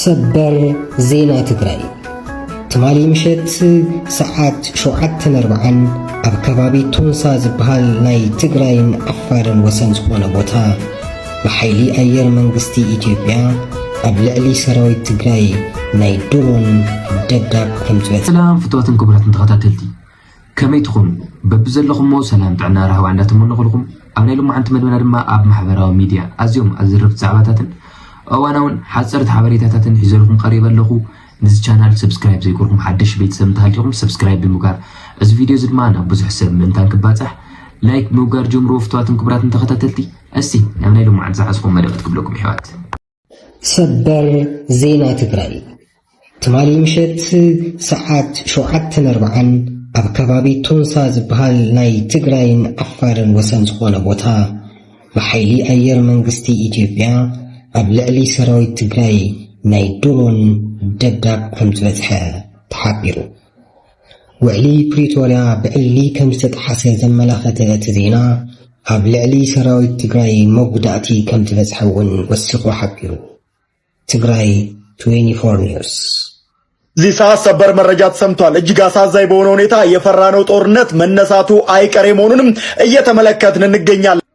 ሰበር ዜና ትግራይ ትማሊ ምሸት ሰዓት ሸውዓተን ኣርብዓን ኣብ ከባቢ ቶንሳ ዝበሃል ናይ ትግራይን ዓፋርን ወሰን ዝኾነ ቦታ ብሓይሊ ኣየር መንግስቲ ኢትዮጵያ ኣብ ልዕሊ ሰራዊት ትግራይ ናይ ድሮን ደብዳብ ከም ዝበፅ ሰላም ፍትዋትን ክቡራትን ተኸታተልቲ ከመይ ትኹኑ በብዘለኹሞ ሰላም ጥዕና ራህዋ እንዳተመነኹልኹም ኣብ ናይ ሎማዓንቲ መደብና ድማ ኣብ ማሕበራዊ ሚድያ ኣዝዮም ኣዘረፍቲ ዛዕባታትን እዋናውን ሓጸርቲ ሓበሬታታትን ሒዘልኹም ቀሪበ ኣለኹ ንዚ ቻናል ሰብስክራይብ ዘይኮርኩም ሓደሽ ቤተሰብ እንተሃልኹም ሰብስክራይብ ብምጋር እዚ ቪድዮ እዚ ድማ ናብ ብዙሕ ሰብ ምእንታን ክባጻሕ ላይክ ምውጋር ጀምርዎ ፍትዋትን ክቡራትን ተኸታተልቲ እስቲ ናብ ናይ ሎማዓንቲ ዝሓዝኩም መደባት ክብለኩም ይሕዋት ሰበር ዜና ትግራይ ትማሊ ምሸት ሰዓት ሸውዓተን ኣርብዓን ኣብ ከባቢ ቶንሳ ዝበሃል ናይ ትግራይን ዓፋርን ወሰን ዝኾነ ቦታ ብሓይሊ ኣየር መንግስቲ ኢትዮጵያ ኣብ ልዕሊ ሰራዊት ትግራይ ናይ ድሮን ደብዳብ ከም ዝበፅሐ ተሓቢሩ። ውዕሊ ፕሪቶርያ ብዕሊ ከምዝተጥሓሰ ዘመላኸተ እቲ ዜና፣ ኣብ ልዕሊ ሰራዊት ትግራይ መጉዳእቲ ከምዝበፅሐ እውን ወሲኹ ሓቢሩ። ትግራይ ትዌንቲ ፎር ኒውስ። እዚህ ሰዓት ሰበር መረጃ ተሰምቷል። እጅግ አሳዛኝ በሆነ ሁኔታ የፈራነው ጦርነት መነሳቱ አይቀሬ መሆኑንም እየተመለከትን እንገኛለን።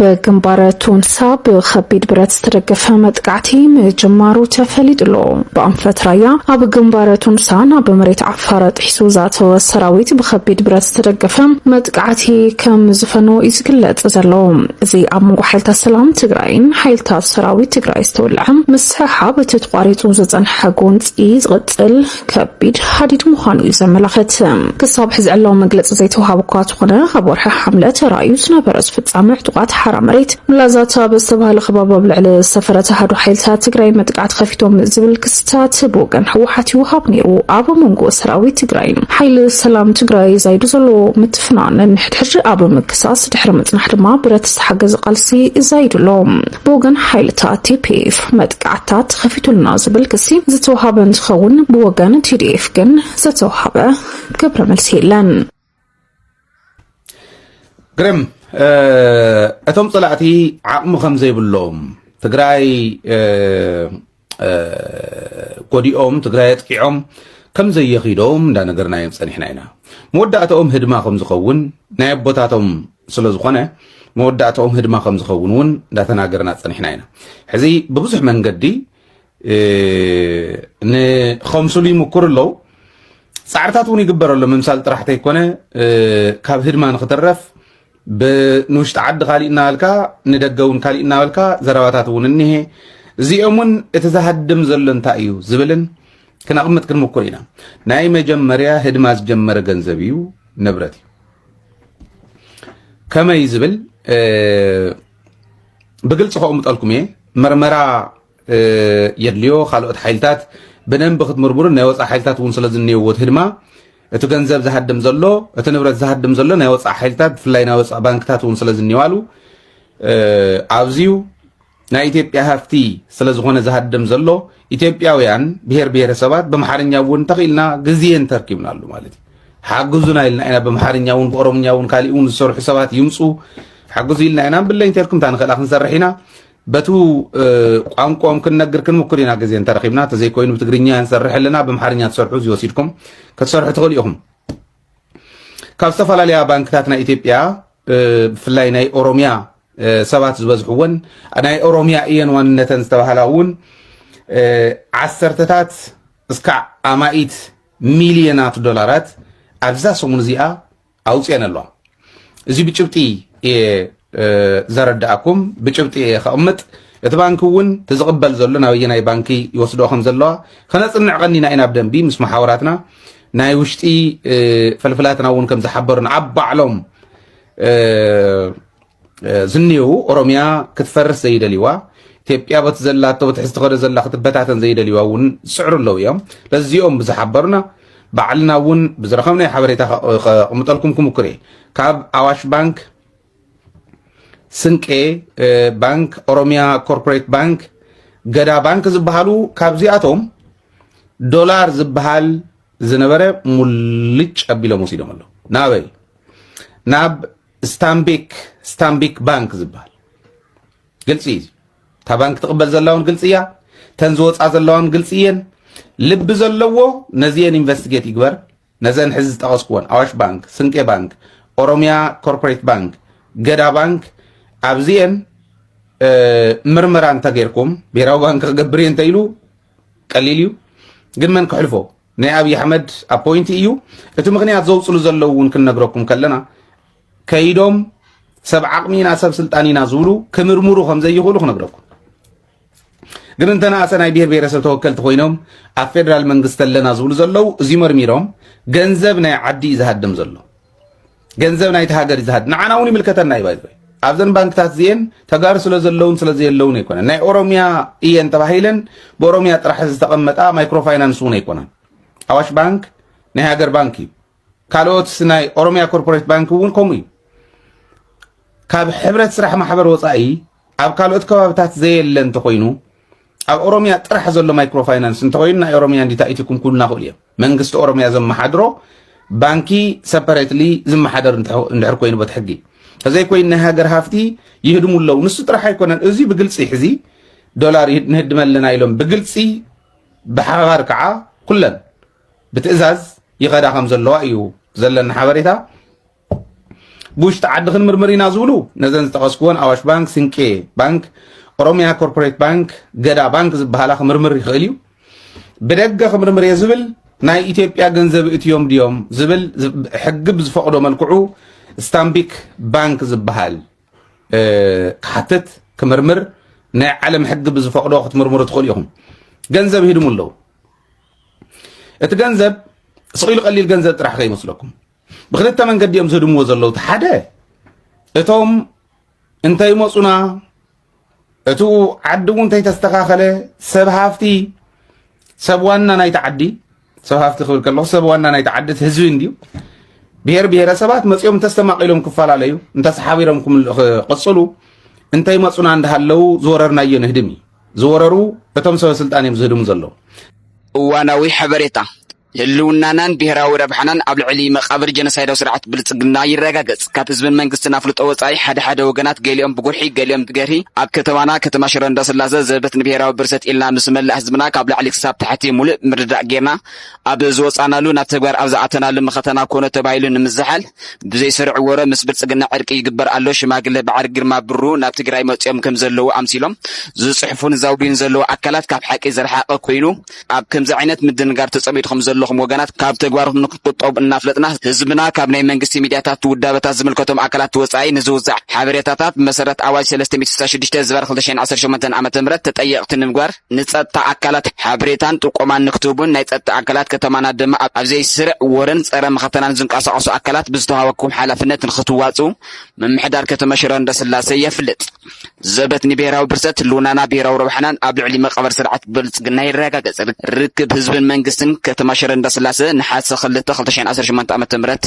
ብግንባር ቶንሳ ብከቢድ ብረት ዝተደገፈ መጥቃዕቲ ምጅማሩ ተፈሊጡ ኣሎ ብኣንፈት ራያ ኣብ ግንባር ቶንሳ ናብ መሬት ዓፋር ጥሒሱ ዝኣተወ ሰራዊት ብከቢድ ብረት ዝተደገፈ መጥቃዕቲ ከም ዝፈኖ እዩ ዝግለጽ ዘሎ እዚ ኣብ መንጎ ሓይልታት ሰላም ትግራይን ሓይልታት ሰራዊት ትግራይ ዝተወልዐ ምስሕሓብ እቲ ተቋሪጹ ዝጸንሐ ጎንጺ ዝቕጽል ከቢድ ሃዲድ ምዃኑ እዩ ዘመላኽት። ክሳብ ሕዚ ዕላዊ መግለጺ ዘይተውሃበ እኳ ተኾነ ኣብ ወርሒ ሓምለ ተራእዩ ዝነበረ ዝፍጻመ ዕጡቓት ሓራ መሬት ላዛታ ብዝተባህለ ከባቢ ኣብ ልዕሊ ዝተፈረተ ኣሃዱ ሓይልታት ትግራይ መጥቃዕቲ ከፊቶም ዝብል ክስታት ብወገን ህወሓት ይውሃብ ነይሩ። ኣብ መንጎ ሰራዊት ትግራይ ሓይሊ ሰላም ትግራይ ዛይዱ ዘሎ ምትፍናን ንሕድሕድ ኣብ ምክሳስ ድሕሪ ምጽናሕ ድማ ብረት ዝተሓገዘ ቃልሲ ዛይዱ ኣሎ። ብወገን ሓይልታት ቲፒኤፍ ቅጥዓታት ተኸፊቱልና ዝብል ክሲ ዝተውሃበ እንትኸውን ብወገን ቲዲኤፍ ግን ዝተውሃበ ግብረ መልሲ የለን። ግርም እቶም ፀላእቲ ዓቕሚ ከም ዘይብሎም ትግራይ ጎዲኦም ትግራይ ኣጥቂዖም ከም ዘየኺዶም እንዳነገርናዮም ፀኒሕና ኢና መወዳእታኦም ህድማ ከም ዝኸውን ናይ ኣቦታቶም ስለዝኾነ መወዳእትኦም ህድማ ከም ዝኸውን እውን እንዳተናገርና ፀኒሕና ኢና። ሕዚ ብብዙሕ መንገዲ ንኸምስሉ ይምኩር ኣለዉ። ፃዕርታት እውን ይግበር ኣሎ። ምምሳል ጥራሕ ተይኮነ ካብ ህድማ ንክትረፍ ንውሽጢ ዓዲ ካሊእ እናበልካ ንደገ እውን ካሊእ እናበልካ ዘረባታት እውን እኒሄ። እዚኦም እውን እቲ ዝሃድም ዘሎ እንታይ እዩ ዝብልን ክነቕምጥ ክንምኩር ኢና። ናይ መጀመርያ ህድማ ዝጀመረ ገንዘብ እዩ፣ ንብረት እዩ። ከመይ ዝብል ብግልፂ ከቕምጠልኩም እየ መርመራ የድልዮ ካልኦት ሓይልታት ብደንቢ ክትምርምሩን ናይ ወፃእ ሓይልታት እውን ስለ ዝንየዎ ህድማ እቲ ገንዘብ ዝሃድም ዘሎ እቲ ንብረት ዝሃድም ዘሎ ናይ ወፃእ ሓይልታት ብፍላይ ናይ ወፃእ ባንክታት እውን ስለ ዝንየዋሉ ኣብዚዩ ናይ ኢትዮጵያ ሃፍቲ ስለዝኾነ ዝሃደም ዘሎ ኢትዮጵያውያን ብሄር ብሄረሰባት በምሓርኛ እውን እንተኽኢልና ግዜ እንተርኪብናሉ ማለት እዩ ሓግዙና ኢልና ኢና በምሓርኛ እውን ብኦሮምኛ እውን ካሊእ እውን ዝሰርሑ ሰባት ይምፁ ሓግዙ ኢልና ኢና ብለይ እንተልኩም እታ ንኽእላ ክንሰርሕ ኢና በቱ ቋንቋኦም ክንነግር ክንምክር ኢና ግዜ እንተረኺብና ተዘይኮይኑ ብትግርኛ ንሰርሕ ኣለና ብምሓርኛ ትሰርሑ እዚ ወሲድኩም ክትሰርሑ ትኽእሉ ኢኹም ካብ ዝተፈላለያ ባንክታት ናይ ኢትዮጵያ ብፍላይ ናይ ኦሮሚያ ሰባት ዝበዝሕወን ናይ ኦሮሚያ እየን ዋንነተን ዝተባሃላ እውን ዓሰርተታት እስካዕ ኣማኢት ሚልዮናት ዶላራት ኣብዛ ሰሙን እዚኣ ኣውፅኤን ኣለዋ እዚ ብጭብጢ እየ ዘረድኣኩም ብጭብጢ እየ ከቕምጥ እቲ ባንኪ እውን እቲ ዝቕበል ዘሎ ናብ ኣየናይ ባንኪ ይወስድኦ ከም ዘለዋ ከነፅንዕ ቀኒና ኢና ብደንቢ ምስ መሓውራትና ናይ ውሽጢ ፈልፍላትና እውን ከም ዝሓበሩን ኣብ ባዕሎም ዝንየው ኦሮሚያ ክትፈርስ ዘይደልይዋ ኢትዮጵያ በቲ ዘላቶ በቲ ሕዝቲ ከደ ዘላ ክትበታተን ዘይደልይዋ እውን ዝስዕሩ ኣለዉ እዮም ለዚኦም ብዝሓበሩና ባዕልና እውን ብዝረኸብናዮ ሓበሬታ ከቕምጠልኩም ክምኩር እየ ካብ ኣዋሽ ባንክ ስንቄ ባንክ ኦሮሚያ ኮርፖሬት ባንክ ገዳ ባንክ ዝበሃሉ ካብዚኣቶም ዶላር ዝበሃል ዝነበረ ሙልጭ ኣቢሎም ወሲዶም ኣለዉ ናበይ ናብ ስታምቢክ ስታምቢክ ባንክ ዝበሃል ግልፂ እዩ እታ ባንኪ ትቕበል ዘላ እውን ግልፂ እያ ተን ዝወፃ ዘለዋ እውን ግልፂ እየን ልቢ ዘለዎ ነዚኤን ኢንቨስቲጌት ይግበር ነዘን ሕዚ ዝጠቐስኩወን ኣዋሽ ባንክ ስንቄ ባንክ ኦሮሚያ ኮርፖሬት ባንክ ገዳ ባንክ ኣብዚኤን ምርመራ እንተገይርኩም ብሄራዊ ባንክ ክገብር እየ እንተኢሉ ቀሊል እዩ ግን መን ክሕልፎ ናይ ኣብዪ ኣሕመድ ኣፖይንቲ እዩ እቲ ምክንያት ዘውፅሉ ዘለዉ እውን ክንነግረኩም ከለና ከይዶም ሰብ ዓቕሚ ኢና ሰብ ስልጣን ኢና ዝብሉ ክምርምሩ ከም ዘይኽእሉ ክነግረኩም ግን እንተነኣሰ ናይ ብሄር ብሄረሰብ ተወከልቲ ኮይኖም ኣብ ፌደራል መንግስቲ ኣለና ዝብሉ ዘለው እዚ መርሚሮም ገንዘብ ናይ ዓዲ እዩ ዝሃድም ዘሎ ገንዘብ ናይቲ ሃገር እዩ ዝሃድም ንዓና እውን ይምልከተና እዩ ባይዘ ኣብዘን ባንክታት እዚኤን ተጋሩ ስለ ዘለውን ስለ ዘየለውን ኣይኮነን ናይ ኦሮሚያ እየን ተባሂለን ብኦሮሚያ ጥራሕ ዝተቐመጣ ማይክሮ ፋይናንስ እውን ኣይኮነን ኣዋሽ ባንክ ናይ ሃገር ባንክ እዩ ካልኦት ናይ ኦሮሚያ ኮርፖሬት ባንክ እውን ከምኡ እዩ ካብ ሕብረት ስራሕ ማሕበር ወፃኢ ኣብ ካልኦት ከባብታት ዘየለ እንተኮይኑ ኣብ ኦሮሚያ ጥራሕ ዘሎ ማይክሮ ፋይናንስ እንተኮይኑ ናይ ኦሮሚያ እንዲታ ኢትኩም ኩልና ክእሉ እዮም መንግስቲ ኦሮሚያ ዘመሓድሮ ባንኪ ሰፐሬትሊ ዝመሓደር እንድሕር ኮይኑ በት ሕጊ እዘይ ኮይኑ ናይ ሃገር ሃፍቲ ይህድሙ ኣለዉ ንሱ ጥራሕ ኣይኮነን እዚ ብግልፂ ሕዚ ዶላር ንህድመ ኣለና ኢሎም ብግልፂ ብሓባር ከዓ ኩለን ብትእዛዝ ይኸዳ ከም ዘለዋ እዩ ዘለኒ ሓበሬታ። ብውሽጢ ዓዲ ክንምርምር ኢና ዝብሉ ነዘን ዝጠቐስክወን ኣዋሽ ባንክ፣ ስንቄ ባንክ፣ ኦሮሚያ ኮርፖሬት ባንክ፣ ገዳ ባንክ ዝበሃላ ክምርምር ይኽእል እዩ። ብደገ ክምርምር እየ ዝብል ናይ ኢትዮጵያ ገንዘብ እትዮም ድዮም ዝብል ሕጊ ብዝፈቕዶ መልክዑ ስታምቢክ ባንክ ዝበሃል ክሓትት ክምርምር ናይ ዓለም ሕጊ ብዝፈቕዶ ክትምርምሩ ትኽእሉ ኢኹም። ገንዘብ ሂድሙ ኣለዉ። እቲ ገንዘብ ስቂሉ ቀሊል ገንዘብ ጥራሕ ከይመስለኩም ብክልተ መንገዲ እዮም ዝህድምዎ ዘለዉ እቲ ሓደ እቶም እንተይመፁና እቲ ዓዲ እውን እንተይተስተኻኸለ ሰብ ሃፍቲ ሰብ ዋና ናይቲ ዓዲ ሰብ ሃፍቲ ክብል ከለኹ ሰብ ዋና ናይቲ ዓዲ እቲ ህዝቢ እንድዩ ብሄር ብሄረሰባት መፂኦም እንተስተማቂሎም ክፈላለዩ እንተሰሓቢሮም ክቕፅሉ እንተይመፁና እንዳሃለዉ ዝወረርናዮ ንህድም እዩ ዝወረሩ እቶም ሰበ ስልጣን እዮም ዝህድሙ ዘለዉ። እዋናዊ ሓበሬታ፣ ህልውናናን ብሄራዊ ረብሓናን ኣብ ልዕሊ መቓብር ጀኖሳይዳዊ ስርዓት ብልፅግና ይረጋገፅ። ካብ ህዝብን መንግስትን ኣፍልጦ ወፃኢ ሓደ ሓደ ወገናት ገሊኦም ብጉርሒ ገሊኦም ብገርሂ ኣብ ከተማና ከተማ ሽረ እንዳስላሰ ዘበት ንብሄራዊ ብርሰት ኢልና ምስ መላእ ህዝብና ካብ ላዕሊ ክሳብ ታሕቲ ሙሉእ ምርድዳእ ገይርና ኣብ ዝወፃእናሉ ናብ ተግባር ኣብ ዝኣተናሉ መኸተና ኮነ ተባሂሉ ንምዝሓል ብዘይ ስሩዕ ወረ ምስ ብልፅግና ዕርቂ ይግበር ኣሎ ሽማግለ በዓል ግርማ ብሩ ናብ ትግራይ መፂኦም ከም ዘለዉ ኣምሲሎም ዝፅሕፉን ዘውድዩን ዘለዉ ኣካላት ካብ ሓቂ ዝረሓቐ ኮይኑ ኣብ ከምዚ ዓይነት ምድንጋር ተፀሚድኹም ዘለኹም ወገናት ካብ ተግባርኩም ንክትቁጠቡ እናፍለጥና ህዝብና ካብ ናይ መንግስቲ ሚድያታት ውዳበታት ዝምልከቶም ኣካላት ወፃኢ ንዝውዛዕ ሓበሬታታት ብመሰረት ኣዋጅ ሰለስተ ሚእቲ ስሳን ሽዱሽተ ዝባር ክልተ ሽሕን ዓሰርተ ሸሞንተን ዓመተ ምህረት ተጠየቕቲ ንምግባር ንጸጥታ ኣካላት ሓበሬታን ጥቆማን ንክትህቡን ናይ ጸጥታ ኣካላት ከተማና ድማ ኣብ ዘይስርዕ ወረን ጸረ መኸተናን ዝንቀሳቐሱ ኣካላት ብዝተዋሃበኩም ሓላፍነት ንክትዋጽኡ ምምሕዳር ከተማ ሽረ እንዳስላሰ የፍልጥ። ዘበት ንብሔራዊ ብርሰት ህልውናና ብሔራዊ ረብሓናን ኣብ ልዕሊ መቐበር ስርዓት ብልጽግና ይረጋገጽ። ርክብ ህዝብን መንግስትን ከተማ ሽረ እንዳስላሰ ነሓሰ ክልተ ክልተ ሽሕን ዓሰርተ ሸሞንተ ዓመተ ምህረት